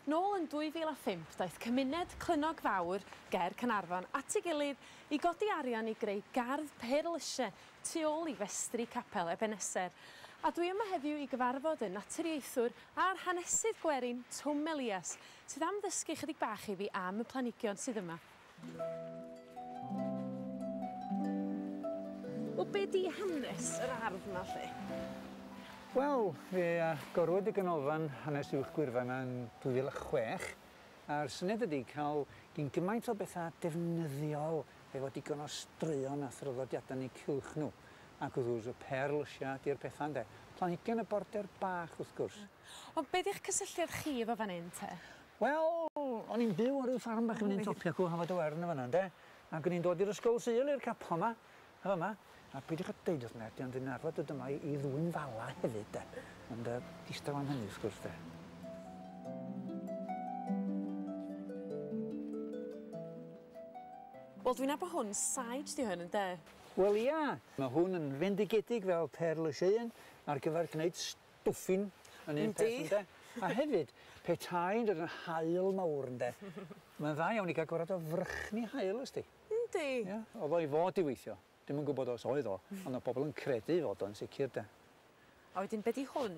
Nôl yn 2005 daeth cymuned Clynnog Fawr ger Caernarfon at ei gilydd i godi arian i greu gardd perlyse tu ôl i festri capel Ebeneser. A dwi yma heddiw i gyfarfod y naturiaethwr a'r hanesydd gwerin Twm Elias sydd am ddysgu chydig bach i fi am y planhigion sydd yma. Wel, be di hanes yr ardd yma, lly? Wel, fe agorwyd y Ganolfan Hanes Uwch Gwyrfa yma yn 2006, a'r syniad ydi cael gyn gymaint o bethau defnyddiol efo digon o straeon a thraddodiadau yn eu cylch nhw. Ac wrth gwrs, y pêr lysiau ydi'r pethau, ynde? Planhigion y border bach, wrth gwrs. Ond be di'ch cysylltiad chi efo fan hyn, te? Wel, o'n i'n byw ar ryw ffarm bach i fyny'n Topia Cŵn Hafod y Wern yn fan'na ynde? Ac o'n i'n dod i'r ysgol Sul, i'r capel 'ma, yn fama. A peidiwch â deud wrth neb, dwi ond yn arfer dod yma i ddwyn fala hefyd 'de. Ond yy distaw am hynny wrth gwrs 'de. Wel dwi'n nabod hwn, sage 'di hwn ynde? Wel ia! Ma' hwn yn fendigedig fel perl y Sieun ar gyfer gneud dwffin yn un peth ynde? A hefyd, pe tai'n dod yn haul mawr ynde, mae'n dda iawn i gael gorad o frychni haul os di. Yndi. Ia, oedd o i fod i weithio. Dwi'm yn gwybod os oedd o, ond oedd pobl yn credu fod o'n sicr de. A wedyn be di hwn?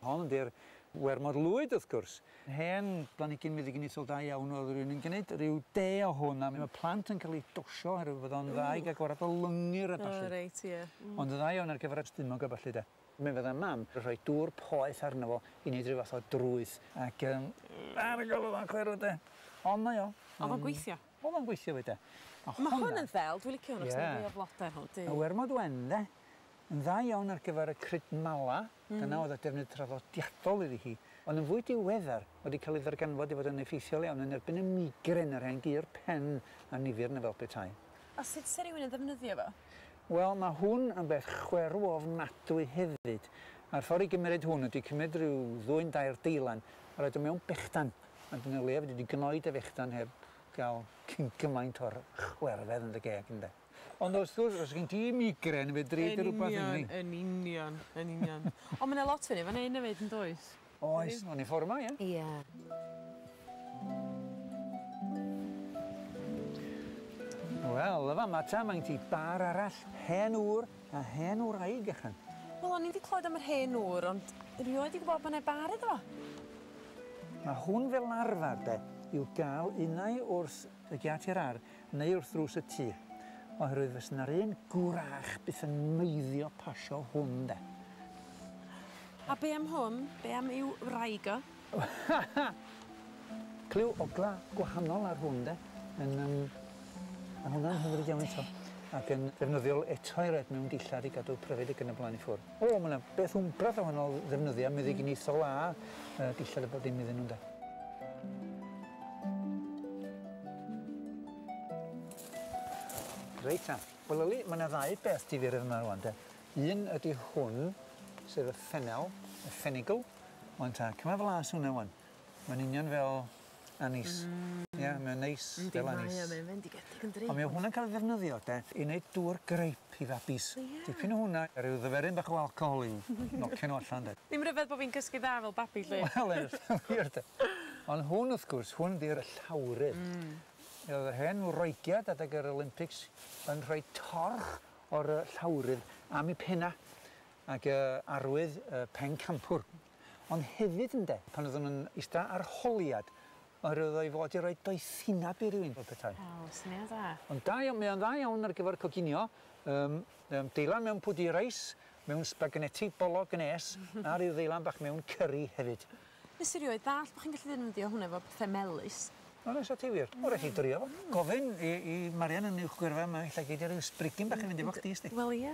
Hon ydi'r wermod lwyd wrth gwrs. Hen blanigyn meddyginiaethol da iawn oedd rhywun yn gneud rhyw de o hwn a mae plant yn cael ei dosio oherwydd fod o'n dda i gael gorad o lyngyr a ballu. O reit ie. Ond yn dda iawn ar gyfer y stumog a ballu de. Mi fydda Mam yn rhoi dŵr poeth arno fo i neud rhyw fath o drwyth ac yym a fi'n gorfod fo chwerw 'de. Ond mae o. O'dd o'n gweithio? O'dd o'n gweithio 'fyd 'de. Ma' hwnna... Ma' hwn yn ddel, dwi licio hwn achos ma' fwy o flode yno, du. Ma' Wermod Wen 'de yn dda iawn ar gyfar y crud mala, dyna o'dd y defnydd traddodiadol iddi hi, ond yn fwy diweddar ma' 'di ca'l ei ddarganfod i fod yn effeithiol iawn yn erbyn y migren, y rhai'n gur pen a nifyr 'na fel petai. A sut 'se rywun yn ddefnyddio fo? Wel, mae hwn yn beth chwerw ofnadwy hefyd. A'r ffordd i gymeryd hwn ydi cymryd rhyw ddwyn dair deilen a rhoid o mewn bechdan, a dyna leia fedri di gnoi dy fechdan heb gael cyn gymaint o'r chwerfedd yn dy geg, ynde? Ond wrth gwrs, os gen ti migren, fedri di rwbath i ni. Yn union, yn union, yn union. Ond mae 'na lot o hyn efo 'na hyn efyd, yn does? Oes, o'n i ffwr' 'ma ie? Ia. Wel y fama ta mae'n ti bar arall hen ŵr a hen wraig ychan. Wel o'n i 'di clywed am yr hen ŵr ond rioed 'di gwbod bo' 'ne bar iddo fo. Ma' hwn fel arfar de i'w ga'l unai wrs y giât i'r ar' neu wrth ddrws y tŷ, oherwydd fysa 'na'r un gwrach byth yn meiddio pasio hwn 'de. A be am hwn? Be am i'w wraig o? Cliw ogla gwahanol ar hwn 'de. Yn yym ma' hwnna'n hyfryd iawn eto. Ag yn ddefnyddiol eto i roid mewn dillad i gadw pryfed ag yn y blaen i ffwrdd. O, mae 'na beth wmbrath o wahanol ddefnyddiau meddyginiaethol a yy dillad a bob dim iddyn nhw ynde? Reit ta. Wel yli, mae 'na ddau beth difyr yn fy marw wan de. Un ydi hwn, sef y ffenel, y ffenigl. Wan ta, cyma flas o hwnna wan. Mae'n union fel anise. Hmm. Ie mae'n neis fel anise. Yndi mae o mae'n fendigedig yn dri. Ond mae hwnna'n cael ei ddefnyddio de i neud dŵr grape i fabis. O ie? Dipyn o hwnna a ryw ddyferyn bach o alcohol i'w nocio nhw allan de. Ddim ryfedd bo fi'n cysgu dda fel babi 'lly. Wel ie wir de. Ond hwn wrth gwrs hwn 'di'r llawrydd. Hmm. Yy yr hen wreigiad adeg yr Olympics yn rhoi torch o'r yy llawrydd am 'u penna ag yy arwydd yy pencampwr. ond hefyd ynde, pan oeddwn yn ista ar holiad, oherwydd oedd o i fod i roi doethineb i rywun fel petai. O, syniad dda. Ond da iawn, mae o'n dda iawn ar gyfer coginio, yym, yym, deilan mewn pwdu reis, mewn spaganeti bolog nes, a rhyw ddeilan bach mewn cyri hefyd. Nes i rioed ddallt bo' chi'n gallu ddefnyddio hwnna efo pethe melys. O na, sa ti wir. O, raid chi drio fo. Gofyn i i Marian yn uwch gyrfa 'ma, ella gei di ryw sbrigyn bach i fynd efo chdi, 'sdi. Wel, ie.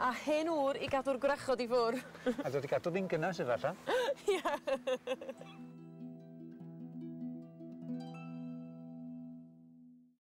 A hen ŵr i gadw'r gwrachod i ffwr'. A dod i gadw fi'n gynnes efalla. Ie!